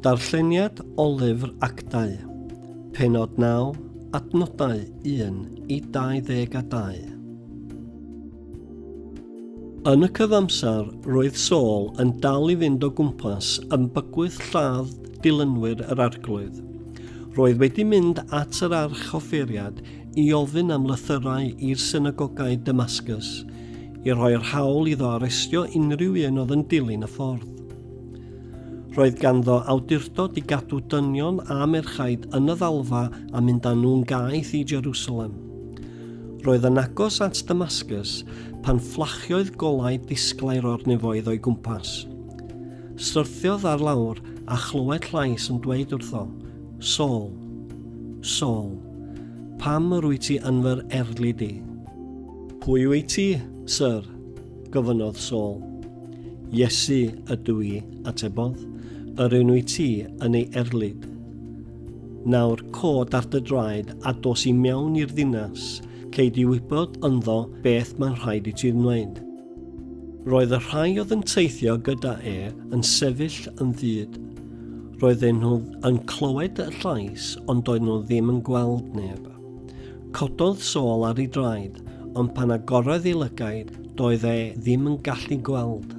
Darlleniad o lyfr actau, penod 9, adnodau 1 i 22. Yn y cyfamser, roedd Saul yn dal i fynd o gwmpas yn bygwth lladd dilynwyr yr arglwydd. Roedd wedi mynd at yr archoffeiriad i ofyn am lythyrau i'r synagogau Damascus, i roi'r hawl iddo arestio unrhyw un oedd yn dilyn y ffordd. Roedd ganddo awdurdod i gadw dynion a merchaid yn y ddalfa a mynd â nhw'n gaeth i Jerusalem. Roedd yn agos at Damascus pan fflachiodd golau disglair o'r nefoedd o'i gwmpas. Syrthiodd ar lawr a chlywed llais yn dweud wrtho, Sol, Sol, pam yr wyt ti yn fy erlid i? Pwy wyt ti, Syr? gofynnodd Saul. Iesu ydw i, atebodd, yr un wyt ti yn ei erlid. Nawr cod ar dy draed a dos i mewn i'r ddinas, cei di wybod ynddo beth mae'n rhaid i ti wneud. Roedd y rhai oedd yn teithio gyda e yn sefyll yn ddyd. Roedden nhw yn clywed y llais ond doedd nhw ddim yn gweld neb. Cododd Saul ar ei draed, ond pan agorodd ei lygaid, doedd e ddim yn gallu gweld.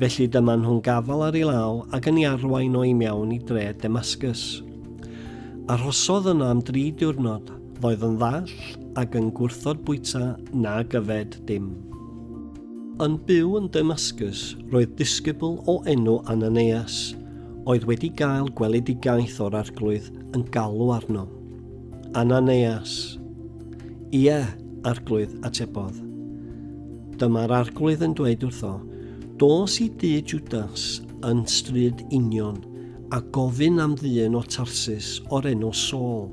Felly dyma nhw'n gafal ar ei law ac yn ei arwain o i mewn i dre Demascus. Arhosodd yno am dri diwrnod, ddoedd yn ddall ac yn gwrthod bwyta na gyfed dim. Yn byw yn Demascus roedd disgybl o enw Ananias, oedd wedi gael gweledigaeth o'r Arglwydd yn galw arno. Ananeas. Ie, Arglwydd, atebodd. Dyma'r Arglwydd yn dweud wrtho, Dos i dŷ Judas yn stryd union, a gofyn am ddyn o Tarsus o'r enw Saul.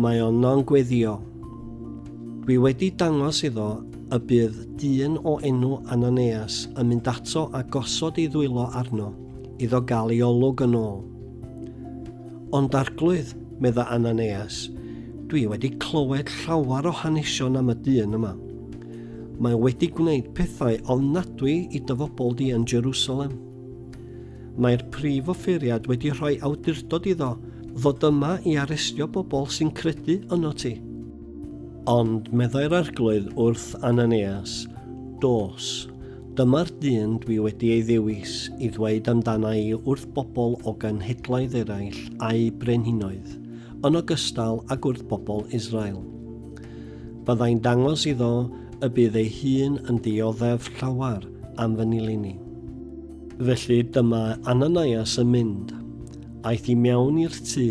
Mae yno'n gweddio. Dwi wedi dangos iddo y bydd dyn o enw Ananeas yn mynd ato a gosod ei ddwylo arno, iddo gael ei olwg yn ôl. Ond Arglwydd, medda Ananeas, dwi wedi clywed llawer o hanesion am y dyn yma. Mae wedi gwneud pethau ofnadwy i dy fobl di yn Jerusalem. Mae'r prif offeiriad wedi rhoi awdurdod iddo ddod yma i arestio bobl sy'n credu yno ti. Ond meddai'r arglwydd wrth Ananeas, Dos, Dyma'r dyn dwi wedi ei ddewis i ddweud amdana i wrth bobl o genhedloedd eraill a'u brenhinoedd, yn ogystal ag wrth bobl Israel. Byddai'n dangos iddo y bydd ei hun yn dioddef llawer am fy nilyn i. Felly dyma Ananias yn mynd. Aeth i mewn i'r tŷ,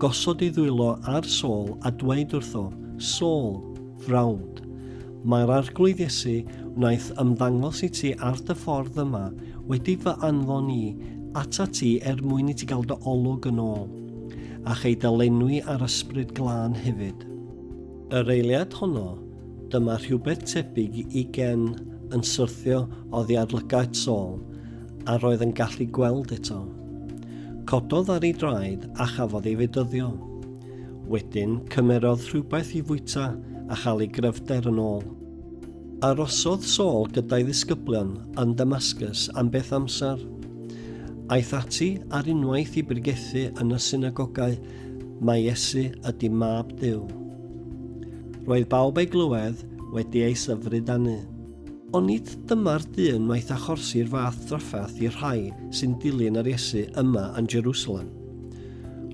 gosod ei ddwylo ar Saul a dweud wrtho, Saul, frawd. Mae'r Arglwydd Iesu wnaeth ymddangos i ti ar dy ffordd yma wedi fy anfon i atat ti er mwyn i ti gael dy olwg yn ôl, a chei dy lenwi â'r Ysbryd Glân hefyd. Yr eiliad honno, dyma rhywbeth tebyg i gen yn syrthio oddi ar lygaid Saul, a roedd yn gallu gweld eto. Cododd ar ei draed a chafodd ei fedyddio. Wedyn, cymerodd rhywbeth i fwyta a chael ei gryfder yn ôl. Arosodd Saul gyda'i ddisgyblion yn Damascus am beth amser. Aeth ati ar unwaith i brigethu yn y synagogau, Mae Iesu ydy mab Duw. Roedd bawb ei glywed wedi ei syfryd anu. Ond nid dyma'r dyn wnaeth achorsi'r fath drafferth i'r rhai sy'n dilyn yr Iesu yma yn Jerusalem.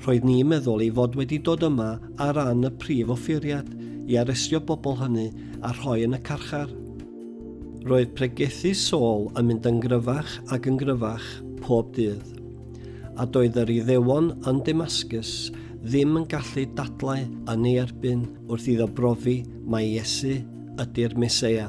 Roedd ni'n meddwl ei fod wedi dod yma ar ran y prif offeiriad i arestio bobl hynny a rhoi yn y carchar. Roedd pregethu Saul yn mynd yn gryfach ac yn gryfach pob dydd, a doedd yr Iddewon yn Damascus ddim yn gallu dadlau yn ei erbyn wrth iddo brofi mai Iesu ydy'r Meseia.